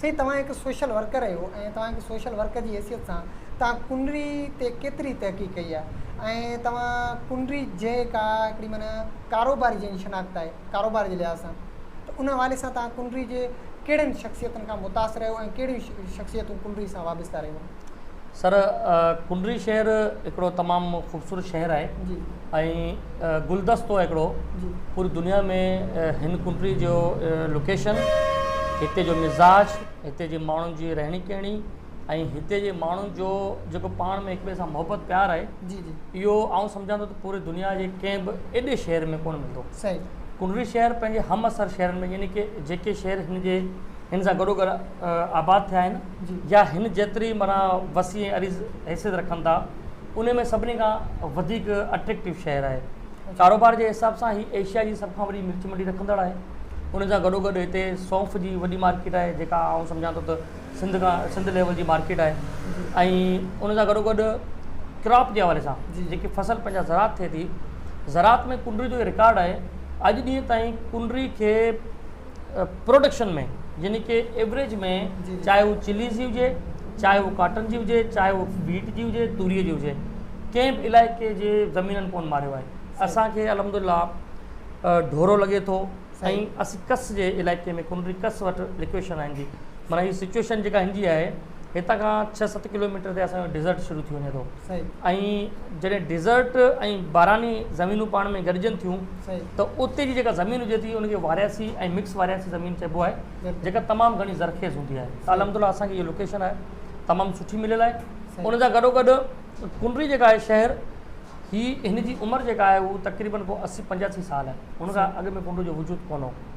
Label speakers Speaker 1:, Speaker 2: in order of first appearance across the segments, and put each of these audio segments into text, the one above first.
Speaker 1: سائين توهان هڪ سوشل ورڪر آهيو ۽ توهان هڪ سوشل ورڪر جي حيثيت سان توهان ڪنري تي ڪيتري تحقيق ڪئي آهي ۽ توهان ڪنري جي ڪا هڪڙي معنيٰ ڪاروباري جنهن جي شناخت آهي ڪاروبار جي لحاظ سان ته ان حوالي سان توهان ڪنري جي ڪهڙين شخصيتن کان متاثر رهيو ۽ ڪهڙيون شخصيتون ڪنري سان وابسته رهيون. سر
Speaker 2: ڪنري شهر هڪڙو تمام خوبصورت شهر آهي ۽ گلدستو آهي هڪڙو پوري دنيا
Speaker 1: ۾
Speaker 2: هن ڪنري جو لوڪيشن هتي جو مزاج هتي جي ماڻهن جي رهڻي ڪهڻي ۽ هتي جي ماڻهن جو جيڪو پاڻ ۾ هڪ ٻئي سان محبت پيار آهي اهو
Speaker 1: آئون سمجهان ٿو ته
Speaker 2: پوري دنيا جي ڪنهن به ايڏي شهر ۾ ڪونه ملندو ڪنري
Speaker 1: شهر پنهنجي
Speaker 2: هم اثر شهرن ۾ يعني ڪي جيڪي شهر هن جي هن سان گڏو گڏ آباد ٿيا آهن يا هن جيتري
Speaker 1: معنيٰ
Speaker 2: وسيع ۽ عريض حيثيت رکن ٿا انهي ۾ سڀني کان وڌيڪ اٽريڪٽو شهر آهي. ڪاروبار جي حساب سان هي ايشيا جي سڀ کان وڏي مرچ منڊي رکندڙ آهي. ان سان گڏوگڏ هتي سونف جي وڏي مارڪيٽ آهي جيڪا آئون سمجهان ٿو ته سنڌ کان سنڌ ليول جي مارڪيٽ آهي ۽ ان سان گڏوگڏ ڪراپ جي حوالي سان جيڪي فصل پنهنجا زراعت ٿئي ٿي زراعت ۾ ڪنري جو رڪارڊ آهي اڄ ڏينهن تائين ڪنري کي پروڊڪشن ۾ يعني ڪي ايوريج ۾ چاهي هو چليز جي هجي چاهي هو ڪاٽن جي هجي چاهي هو ويٽ جي هجي توري جي هجي ڪنهن به علائقي جي زمينن ڪون ماريو آهي اسانکي الحمد لله ڍورو لڳي ٿو ۽ اسين ڪس جي علائقي ۾ ڪنري ڪس وٽ لوڪيشن آهن جي مانا هي سچويشن جيڪا هن جي آهي هتان کان ڇهه ست ڪلوميٽر تي اسانجو ڊيزرٽ شروع ٿي وڃي ٿو ۽ جڏهن ڊيزرٽ ۽ باراني زمينون پاڻ ۾ گڏجن ٿيون ته اتي جي جيڪا زمين هجي ٿي ان کي وارياسي ۽ مڪس وارياسي زمين چئبو آهي جيڪا تمام گهڻي زرخيز هوندي آهي ته الحمد لله اسان کي اها لوڪيشن آهي تمام سٺي مليل آهي ان سان گڏو گڏ ڪنري جيڪا آهي شهر هي هن جي عمر جيڪا آهي هو تقريبن ڪو اسي پنجاسي سال آهي ان کان اڳ ۾ ڪنري جو وجود ڪونه هو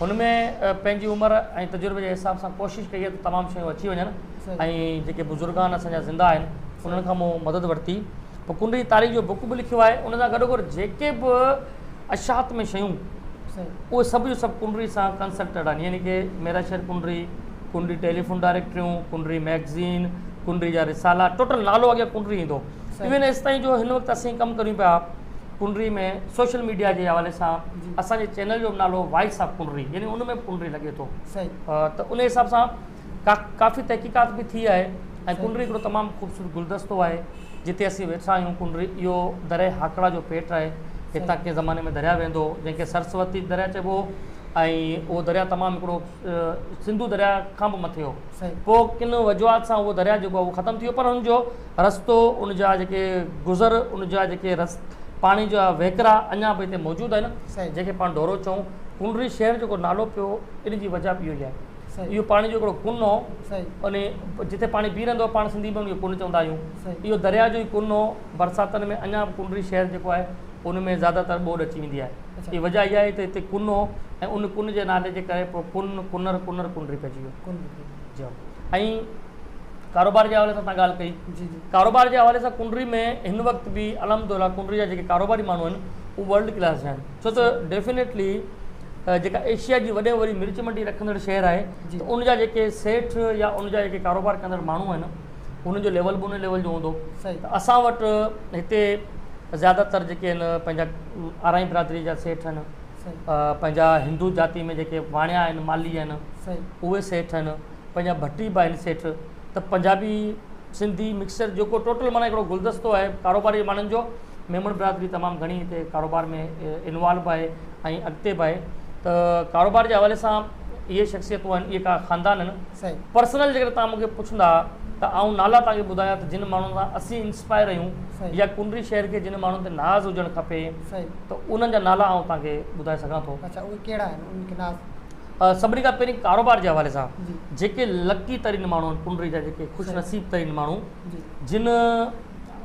Speaker 2: هن ۾ پنهنجي عمر ۽ تجربي جي حساب سان ڪوشش ڪئي ته تمام شيون اچي وڃن ۽ جيڪي بزرگان اسان جا زنده آهن انهن کان مون مدد ورتي پوء ڪنڊ جي تاريخ جو بڪ به لکيو آهي ان سان گڏو گڏ جيڪي به اشاعت ۾ شيون اهي سڀ جو سڀ ڪنڊري سان ڪنسلٽيڊ آهن يعني ڪي ميرا شهر ڪنڊري ڪنڊري ٽيليفون ڊائريڪٽريون ڪنڊري ميگزين ڪنڊري جا رسالا ٽوٽل نالو اڳيان ڪنڊري ايندو ايون ايستائين جو هن وقت اسين ڪم ڪريون پيا پنري ۾ سوشل ميڊيا جي حوالي سان اسان جي چينل جو نالو وائس آف پنري يعني ان ۾ پنري لڳي ٿو ته ان حساب سان ڪافي تحقيقات به ٿي آهي ۽ پنري هڪڙو تمام خوبصورت گلدستو آهي جتي اسين ويٺا آهيون پنري اهو دريا هاڪڙا جو پيٽ آهي هتان ڪنهن زماني ۾ دريا ويندو هو جنهن کي سرسوتي دريا چئبو هو ۽ اهو دريا تمام هڪڙو سنڌو دريا کان به مٿي هو پوء ڪن وجوهات سان اهو دريا جيڪو هو ختم ٿي ويو پر هن جو رستو ان جا جيڪي گذر ان جا جيڪي رس پاڻي جا وهڪرا اڃا به هتي موجود آهن جيڪي پاڻ ڍورو چئون ڪنڊري شهر جيڪو نالو پيو ان جي وجہ به اهو ئي آهي اهو پاڻي جو هڪڙو ڪن هو ان جتي پاڻي بيهي رهندو هو پاڻ سنڌي ۾ ان کي ڪن چوندا آهيون اهو درياء جو ئي ڪن هو برساتن ۾ اڃا به ڪنڊري شهر جيڪو آهي ان ۾ زياده تر ٻوڏ اچي ويندي آهي اهي وجہ اها آهي ته هتي ڪن هو ۽ ان ڪن جي نالي جي ڪري پوء ڪن ڪنر ڪنر ڪنڊري پئجي ويو جي ۽ ڪاروبار جي حوالي سان تان ڳالهه ڪئي ڪاروبار جي حوالي سان ڪنري ۾ هن وقت به الحمدلله ڪنري جا جيڪي ڪاروباري ماڻهو آهن هو ورلڊ ڪلاس جا آهن ڇو ته ڊيفينيٽلي جيڪا ايشيا جي وڏي واري مرچ منڊي رکندڙ شهر آهي جي ان جا جيڪي سيٺ يا ان جا جيڪي ڪاروبار ڪندڙ ماڻهو آهن انهن جو ليول به ان ليول جو هوندو اسان وٽ هتي زيادہ تر جيڪي آهن پنهنجا آرائي برادري جا سيٺ آهن پنهنجا هندو جاتي ۾ جيڪي واڻيا آهن مالهي آهن اهي سيٺ آهن پنهنجا ڀٽي به آهن سيٺ ته پنجابي سنڌي مڪسچر جيڪو ٽوٽل معنيٰ هڪڙو گلدستو آهي ڪاروباري ماڻهن جو ميمڻ برادري تمام گهڻي هتي ڪاروبار ۾ انوالو به آهي ۽ اڳتي به آهي ته ڪاروبار جي حوالي سان اهي شخصيتون آهن اهي ڪا خاندان آهن پرسنل جيڪڏهن تان مونکي پڇندا ته آئون نالا تان کي ٻڌايان ته جن ماڻهن سان اسين انسپائر آهيون يا ڪنري شهر
Speaker 1: کي
Speaker 2: جن ماڻهن تي ناز هجڻ کپي ته انهن
Speaker 1: جا نالا
Speaker 2: آئون توهان کي ٻڌائي سگهان ٿو. اچا اهي ڪهڙا آهن انهن
Speaker 1: کي ناز. سڀني کان
Speaker 2: پهرين ڪاروبار جي حوالي سان جيڪي
Speaker 1: لڪي
Speaker 2: ترين ماڻهو آهن ڪنڊري جا جيڪي خوش نصيب ترين ماڻهو جن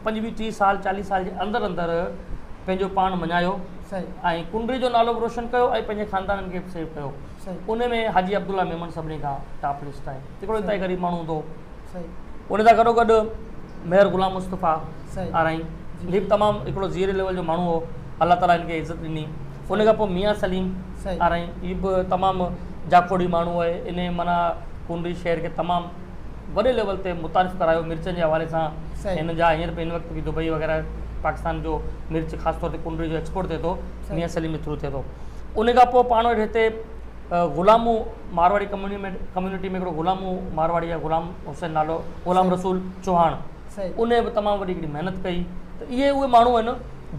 Speaker 2: پنجويهه ٽيهه سال چاليهه سال جي اندر اندر پنهنجو پاڻ مڃايو ۽
Speaker 1: ڪنڊري جو نالو
Speaker 2: به روشن ڪيو ۽ پنهنجي خاندانن کي به سيو ڪيو انهن ۾ حاجي
Speaker 1: عبدالله
Speaker 2: ميمڻ سڀني کان ٽاپ لسٽ آهي هڪڙو انتهائي غريب ماڻهو هوندو هو ان
Speaker 1: سان گڏو گڏ
Speaker 2: مير غلام مصطفيٰ آرائين
Speaker 1: هي به
Speaker 2: تمام
Speaker 1: هڪڙو زيري
Speaker 2: ليول جو ماڻهو هو الله تعالي هن کي عزت ڏني ان کان پوء ميان سليم آرائين هي
Speaker 1: به
Speaker 2: تمام جاکوڙي ماڻهو آهي ان معنيٰ ڪونري شهر کي تمام وڏي ليول تي متعارف ڪرايو مرچن جي حوالي سان هن جا هينئر به
Speaker 1: هن وقت
Speaker 2: به دبئي وغيره پاڪستان جو مرچ خاص طور تي ڪونري جو ايڪسپورٽ ٿئي ٿو ميان سليم جي ٿرو
Speaker 1: ٿئي ٿو
Speaker 2: ان کان پوء پاڻ وٽ هتي غلامو مارواڙي ڪميونٽي ۾ هڪڙو غلامو مارواڙي آهي غلام حسين نالو غلام رسول
Speaker 1: چوهاڻ
Speaker 2: ان به
Speaker 1: تمام وڏي هڪڙي
Speaker 2: محنت ڪئي ته اهي اهي ماڻهو آهن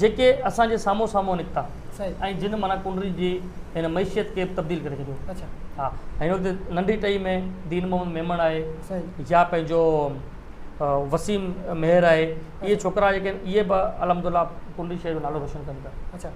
Speaker 2: جيڪي اسان جي سامهون سامهون نڪتا ۽ جن معنيٰ
Speaker 1: ڪنري
Speaker 2: جي هن معيشت کي تبديل ڪري ڇڏيو ها
Speaker 1: هن وقت
Speaker 2: ننڍي ٽهي ۾ دين محمد ميمڻ آهي يا پنهنجو وسيم مهر آهي اهي ڇوڪرا جيڪي آهن اهي به الحمد لله ڪنري شهر جو نالو روشن ڪن ٿا